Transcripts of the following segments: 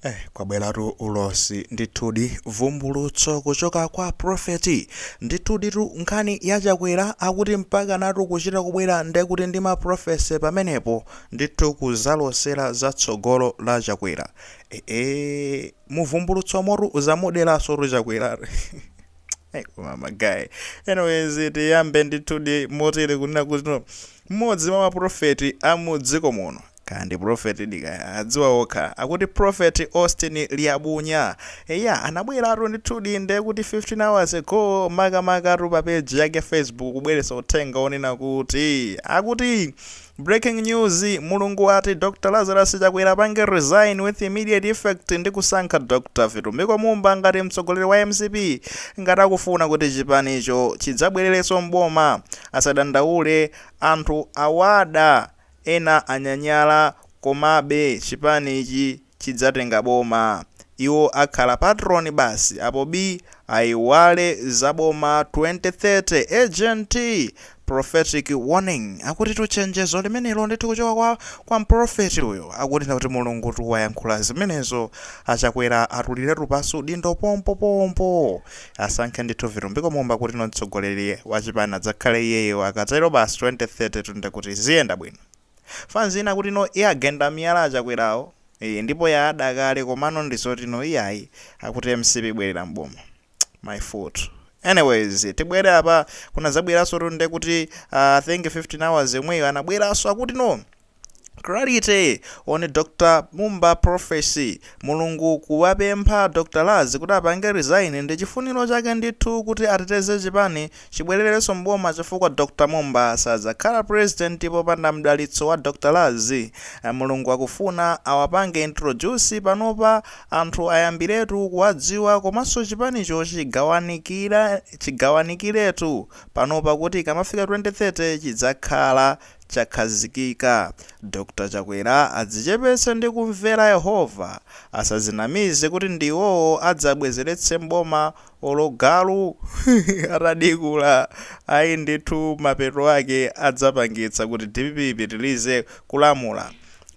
Eh, kwabweratu ulosi ndithudi vumbulutso kuchoka kwa profeti ndithuditu nkhani ya chakwera akuti mpaka natu kuchita kubwera ndekuti ndi maprofesi pamenepo ndithu kuzalosera za tsogolo la chakwera ee eh, eh, muvumbulutso motu wazamuderaso tu chakwera eh, koma magayi anyways tiyambe ndithudi motere kunena kuti mmodzi mwa maprofeti a mudziko muno Kaya ndi prophet di kaya, adziwa okha. Akuti Prophet Austin Liabunya. Eya, anabweratu ndithudi, nde kuti 15 hours ago, makamakatu pa page yake ya Facebook kubweretsa uthenga wonena kuti, akuti, Breaking news, Mulungu wati Dr Lazarus Chakwera apange resign with immediate effect ndi kusankha Dr Vitumbiko Mumba ngati mtsogoleri wa mcp ngati akufuna kuti chipanicho chidzabwererenso m'boma. Asadandaule, anthu awada. Ena anyanyala komabe chipanichi chidzatenga boma. Iwo akhala patron basi apo bii aiwale za boma 2030 urgent prophetic warning akutitu chenjezo limenelo ndithu kuchoka kwa mprophet uyo akunena kuti Mulungutu wayankhula zimenezo achakwera atuliretu pansi udindo pompopompo Asankhe ndithu vitumbiko mumba kuti no mtsogoleri wa chipani adzakhale iyeyo akatero basi 2030 tu nde kuti ziyenda bwino. Fanz ina kuti no iwagenda miyala achakwerawo ii ndipo yawada kale komano ndizoti no iyayi akuti mcp ibwerera m'boma. My foot. Anyways tibwere apa kunadzabweraso tu nde kuti aah I think 15 hours yomweyo anabweraso akuti no. Clarity on Dr Mumba prophecy, Mulungu kuwapempha Dr Laz kuti apange resign ndichifuniro chake ndithu kuti ateteze chipani chibwelereso m'boma chifukwa Dr Mumba sadzakhala president popanda mdalitso wa Dr Laz, Mulungu akufuna awapange introduce panopa anthu ayambiretu kuwadziwa komanso chipanicho chigawanikiretu panopa kuti ikamafika 2030 chidzakhala chakhazikika. Dr Chakwera adzichepetse ndi kumvera Yehova, asadzinamize kuti ndi iwowo adzabwezeretse m'boma olo galu atadikula ayi ndithu mapeto ake adzapangitsa kuti dpp ipitilize kulamula.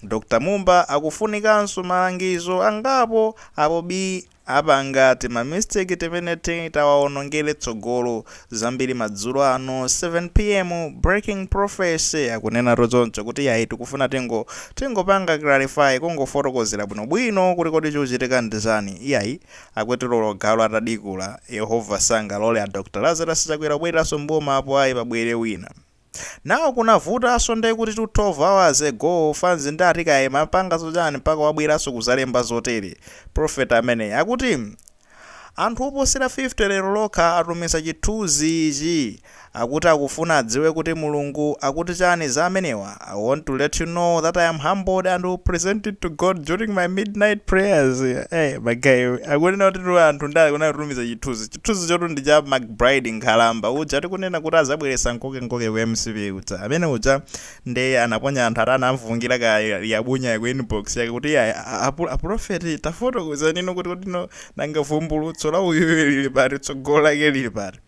Dr Mumba akufunikanso malangizo angapo apo bii. Apanga tima mistake timeneti tawaonongere tsogolo. Zambiri madzulo ano 7 pm breaking prophecy akunenatu choncho kuti yayi tikufuna tingo tingopanga clarify kungofotokozera bwino bwino kuti kodi chikuchitika ndi chani iyayi akuti olo galu atadikula yehova sangalole a Dr Lazarus chakwera kubwereranso mboma apo ayi pabwere wina Now kunavutaso nde kutitu 12 hours ago fanz nde ati kaya imapangaso chani mpaka wabweraso kuzalemba zotere? prophet ameneyi akuti Anthu oposera 50 lero lokha atumiza chithuzi ichi akuti akufuna adziwe kuti Mulungu akuti chani za amenewa I want to let you know that I am humbled and will present it to God during my midnight prayers eh ma guy akunena kutitu anthu nde akunenatumiza chithuzi Chithunzichotu ndi cha MacBride nkhalamba uja tikunena kuti azabweretsa nkokenkoke ku mcp uja. Amene uja nde anaponya anthu ati anamvungira ka Liabunya ku inbox yake kuti iyayi a prophet tafotokozanino kuti kodino nanga vumbulutso la uyuyu lili pati tsogolo lake lili pati.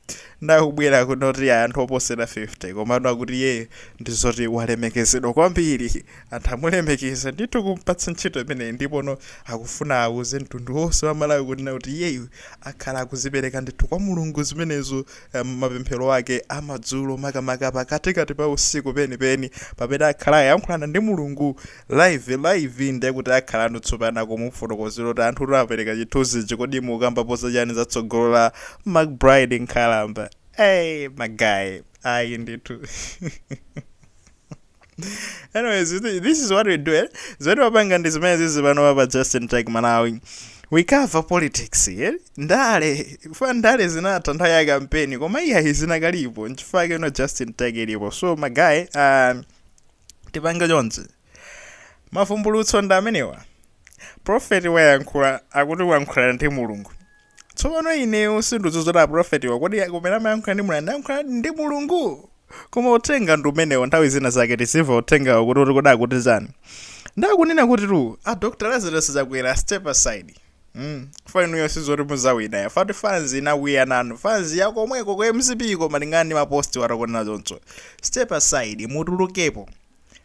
Nde akubwera kuno kuti iyayi anthu oposera 50 komano akuti iyeyo ndizoti walemekezedwa kwambiri. Anthu amulemekeza ndithu kumpatsa ntchito imeneyi ndipono akufuna auze mtundu onse wa Malawi kunena kuti iyeyu akhala akuzipereka ndithu kwa Mulungu zimenezo eh, mapemphero ake amadzulo makamaka pakatikati pa usiku penipeni pamene akhala ayankhulana ndi Mulungu live live ndiye kuti akhalano tsopano akumufotokozera kuti anthutu apereka chithunzichi kodi mukambapo zachani za tsogolo la McBride Nkhalamba. Hey, magayi. Ayi ndithu. anyways thi- this is what we do eh? zoti timapanga ndi zimene zili panowa pa justin tech malawi we cover politics eh? ndale fa ndale zinatha nthawi ya kampeni koma iyayi zinakalipo nchifukwa ino justin tech ilipo so magaye uh, tipange chonchi mavumbulutso ndi amenewa profeti wayankhula akuti wayankhula ndi mulungu Tsopano, ine sindudzudzula aprofetiwa, kodi akumanena amayankhula ndi Mulungu, anayankhulanadi ndi Mulungu? Koma uthenga ndi umenewo, nthawi zina zake tizimva uthengawo kuti, kuti kodi akuti chani. Nde akunena kutitu, a Dr Lazarus Chakwera step aside, mm, chifukwa inuyo sizoti muzawina ya, fa ati fans inakwiya nanu, fans ya komweko ku mcp ko malingana ndi ma post wa akunena choncho, step aside, mutulukepo.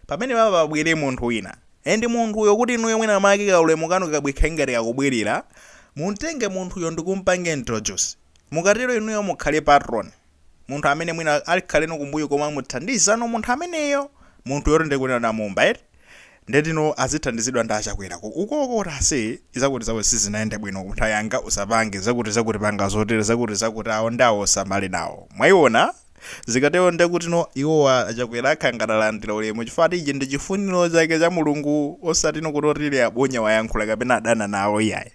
Pamene papa pabwere munthu wina, and munthuyo kuti inuyo mwina mwake ka ulemu kanu kabwekhala ngati kakubwilira, mumtenge munthuyo ndikumpanga introduce. Mukatero inuyo mukhale patron. Munthu amene mwina akhaleno kumbuyo komwe muzimuthandizano munthu ameneyo. Munthuyotu nde kuti a Mumba eti. Nde kutino azithandizidwa ndi a Chakwera ko. Ukoko kuti ase zakuti zakuti sizinayende bwino ku nthawi yanga usapange zakuti zakuti panga zotere zakuti zakuti awo ndi awo usamalenawo nawo. Mwaiona? Zikatero nde kutino iwowa achakwera akhala ngati alandira ulemu chifukwa ati ichi ndi chifuniro chake cha mulungu osatino kuti oti Liabunya wayankhula kapena adana nawo iyayi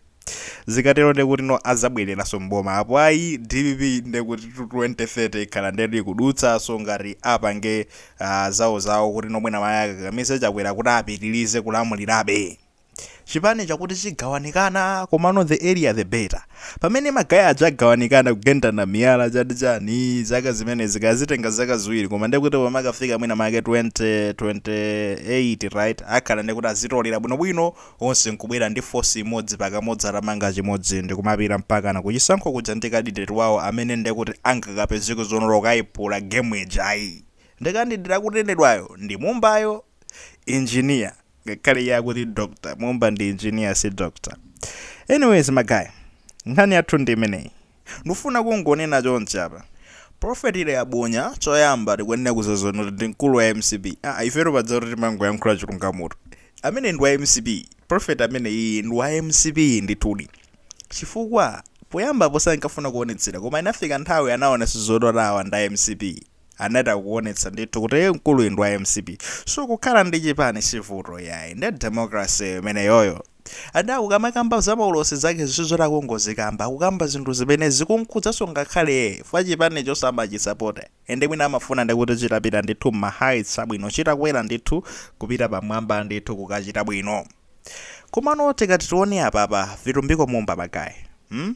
zikatero nde kutino azabweleranso m'boma apo ayi dpp nde kutitu 2030 ikhala ndetu ikudutsanso ngati apange zawozawo kutino mwina mwake akakamize chakwera kuti apitilize kulamulirabe chipani chakuti chigawanikana komano the earlier the better pamene magaye aja agawanikana kugendana miyala chati chani zaka zimenezi kaya zitenga zaka ziwiri koma ndiye kuti pamakafika mwina make 2028 right akhala ndiye kuti adzitolera bwinobwino onse nkubwera ndi force imodzi pakamodzi atamanga chimodzi ndikumapita mpakana kuchisankho kuja ndi kandideti wawo amene ndiye kuti angakapezeke zoona akayipula game ija ayi ndi kandideti akunenedwayo ndi Mumbayo engineer ngakhale iye akuti doctor Mumba ndi engineer si doctor anyways magaye nkhani yathu ndi imeneyi ndifuna kungonena chonchi apa prophet Liabunya choyamba tikuyenera kudziwa zonena kuti ndi mkulu wa mcp ah, if at all pakuti kuti timangoyankhula chilungamoto ameneyu ndi wa mcp prophet ameneyi ndi wa mcp ndithudi chifukwa poyambapo sankafuna kuonetsera koma inafika nthawi anaonetsa zoti tawa ndi a mcp anachita kuonetsa ndithu kuti mkuluyi ndi wa mcp so kukhala ndi chipani sivuto yayi nde democracy imeneyo and akukamakamba za maulosi zake sizoti akungozikamba akukamba zinthu zimene zikumkhudzanso ngakhale iyeyo chifukwa chipanicho amachisapota ende mwina amafuna ndikuti chitapita ndithu mma heights abwino chitakwera ndithu kupita pamwamba ndithu kukachita bwino komano tikati tione apapa vitumbiko mumba magayi hmm?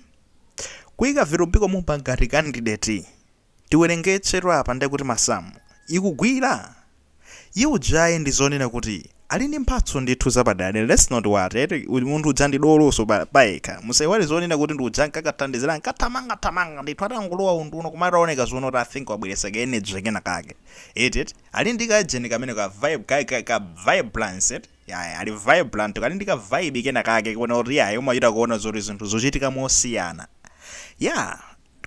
kuyika vitumbiko mumba ngati kandideti Tiwerengetsetu apa nde kuti masamu. Ikugwira? Iye ujayi ndi zonena kuti Ali ndi mphatso ndithu zapadera dera let's not worry eti munthu uja ndi doloso pa payekha musaiwale zonena kuti ndi uja ankakathandizira ankathamanga thamanga ndithu atangolowa unduna koma ataoneka zonena kuti I think wabweretsa ka energy kena kake eti eti Ali ndi ka ujeni kamene ka vibe ka ka, ka vibrance eti yaya Ali vibrant kali ndi ka vibe kena kake kuona kuti yaya umachita kuona zoti zinthu zochitika mosiyana yeah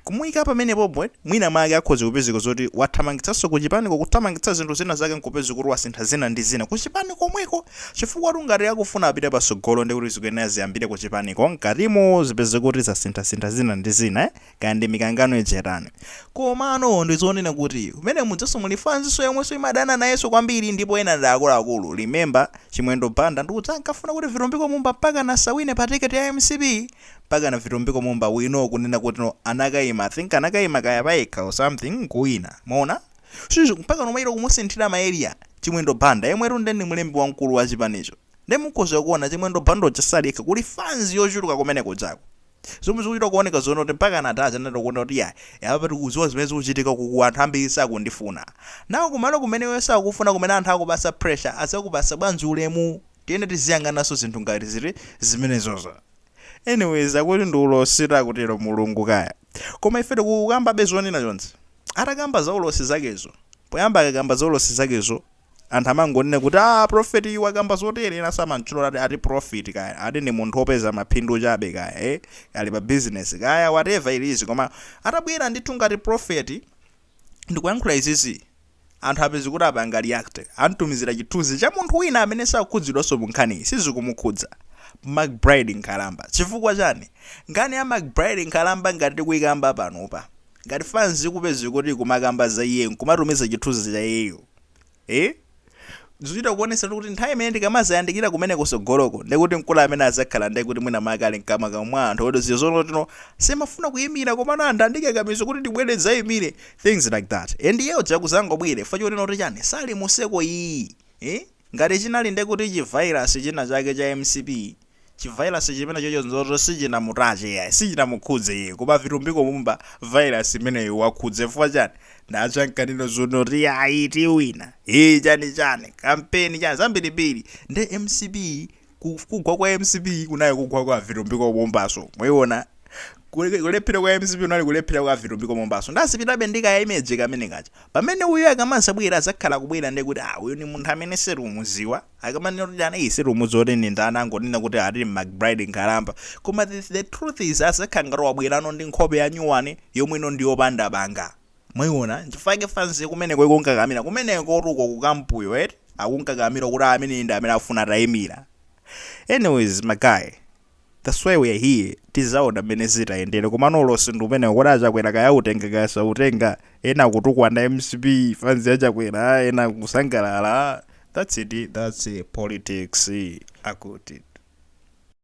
Kumuika pamenepopo eti, mwina mwake akhoza kupezeka zoti wathamangitsanso kuchipaniko, kuthamangitsa zinthu zina zake nkupeza kuti wasintha zina ndi zina kuchipani komweko, chifukwatu ngati akufuna apite patsogolo ndiye kuti zikuyenera ziyambire kuchipaniko mkatimo, zipeze kuti zasinthasintha zina ndi zina, kaya ndi mikangano ija itani. Komano ndi zonena kuti mmene mujamonso muli fansinso yomwenso imadana nayenso kwambiri ndipo ena ndi akuluakulu, remember Chimwendo Banda ndi uja ankafuna kuti Vitumbiko Mumba mpakana asawine pa ticket ya mcp, mpakana vitumbiko mumba we know kunena kuti no anakaima i think anakaima kaya payekha or something nkuwinanso mwaona shush mpakana kumayesa kumusinthira ma area chimwendo banda yemwetu nde ndi mlembi wamkulu wa chipanicho nde mukhoza kuona chimwendo banda uja sali yekha kuli fans yochuluka kumene kujaku zomwe zikuchita kuoneka zonena kuti mpaka anachita anangoona kuti yayi apa tikudziwa zimene zikuchitika kuku anthu ambiri sakundifuna nawo kumalo kumene iwe sakukufuna kumene anthu akukupatsa pressure adzakupatsa bwanji ulemu tiyene tiziyang'ananso zinthu ngati ziri zimenezozo anyways akuti ndi ulosi takutero mulungu kaya koma ife tikukambabe zonena chonchi atakamba za ulosi zakezo poyamba akakamba za ulosi zakezo anthu amangonena kuti prophet uyu wakamba zotere ena samamtchula ati ati prophet kaya ati ndi munthu opeza maphindu chabe kaya eh ali pa business kaya whatever it is koma atabwera ndithu ngati prophet ndikuyankhula izizi Anthu upeza kuti apanga react. Amtumizira chithunzi cha munthu wina amene sakukhudzidwanso mu nkhaniyi. Sizikumukhudza. MacBride Nkhalamba. Chifukwa chani? Nkhani ya MacBride Nkhalamba ngati tikuyikamba panopa. Ngati fans upeza kuti ikumakamba za iye nkumatumiza chithunzi cha iyeyo. Eeh? Zikuchita kuonetseratu kuti nthawi imene zikamazayandikira kumene kusogoloko ndiye kuti mkulu amene azakhala ndiye kuti mwina make ali mkamwakamwa mwa anthu oti zinthu zonena kuti ine simafuna kuyimira komano anthu andikakamiza kuti ndibwere ndizayimire things like that and iye uja kuzangobwera chifukwa chonena kuti chani sali mu circle iyi eh ngati chinali ndiye kuti chi virus china chake cha mcp Chi virus chimenecho choncho sichinamutache iyayi, sichinamukhudze iye koma vitumbiko mumba virus imeneyo iwakhudza chifukwa chani? Nawo ankanena zonena kuti iyayi tiwina, ee chani chani, campaign chani zambirimbiri nde mcp kugwa kwa mcp kunali kugwa kwa vitumbiko mumbaso mwayiona kulephera kwa mcp kunali kulephera kwa vitumbiko mumbaso nde azipitabe ndi ka image kamene kaja pamene uyu akamazabwera azakhala akubwera ndekuti aah uyu ndi munthu amene sitikumuziwa Akamanena kuti anthu sitikumudziwa kuti ndi ndani angonena kuti ati McBride nkhalamba koma the, the truth is azakhala ngati wabwerano ndi nkhope ya nyuwani yabwino ndi yopanda banga mwayiona nchifukwa yake fanzi kumeneko ikunkakamira kumeneko kuti uko ku camp yo eti akunkakamira kuti ameneyi ndi amene afuna atayimira anyways my guy That's why we are here, tizaona mmene zitayendere komano ulosi ndi umenewo oti a Chakwera kaya autenga kaya sautenga, ena akutukwana mcp, fans ya Chakwera, ena akusangalala, that's it, that's politics, akuti.